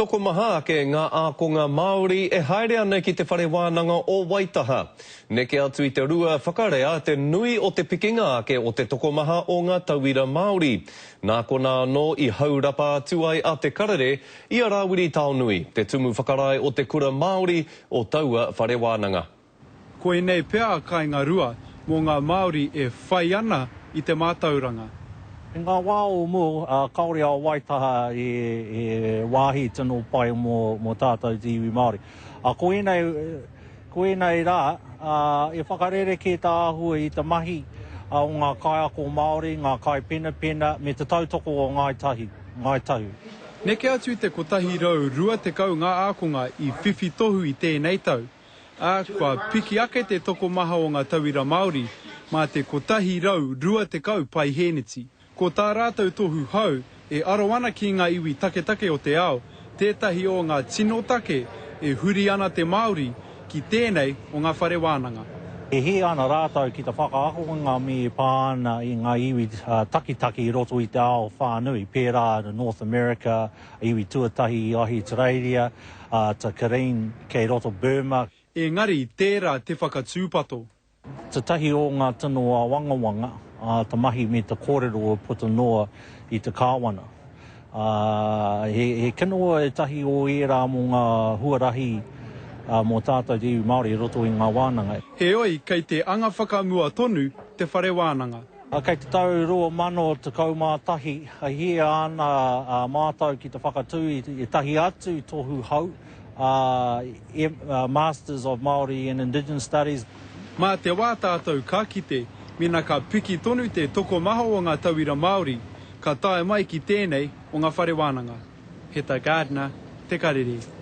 Tokomaha ake ngā ākonga Māori e haere ana ki Te Whare Wānanga o Waitaha. Neke atu i te rua, whakarea te nui o te pikinga ake o te tokomaha o ngā tauira Māori. Nā konā anō i haurapa atu ai a Te Karere i a Rāwiri Taonui, te tumu whakarae o te kura Māori o taua whare wānanga. Koinei pea a Kainga Rua mō ngā Māori e whai ana i te mātauranga. I ngā wā o mua, kāore a Waitaha e wāhi tino pai mō tātou te iwi Māori. Ko ēnei, ko ēnei rā, e whakarerekē tāhua i te mahi o ngā kaiako Māori, ngā kaipenapena, me te tautoko o Ngāi Tahu, Ngāi Tahu. Neke atu i te 120 ngā ākonga i whiwhi tohu i tēnei tau. ā, kua piki ake te tokomaha o ngā tauira Māori mā te 120 paihēneti. Ko tā rātou tohu hou e aro ana ki ngā iwi taketake o te ao, tētahi o ngā tino take e huri ana te Māori ki tēnei o ngā whare wānanga. E hē ana rātou ki te whakaakonga me pā ana i ngā iwi taketake i roto i te ao whānui, pērā North America, Iwi tuatahi i Ahitereiria, a Ta Kareen, kei roto Burma. Engari tērā te whakatūpato. Tētahi o ngā tino āwangawanga a te mahi me te kōrero e puta noa i te Kāwana. He kino ētahi o ērā mō ngā huarahi mō tātou te iwi Māori i roto i ngā wānanga. Heoi, kei te anga whakamua tonu te whare wānanga. Kei te tau 2011 i hia ana a mātou ki te whakatū i ētahi atu tohu hou, Masters of Māori and Indigenous Studies. Mā te wā tātou ka kite, mēnā ka piki tonu te tokomaha o ngā tauira Māori, ka tae mai ki tēnei o ngā whare wānanga. Heta Gardner, Te Karere.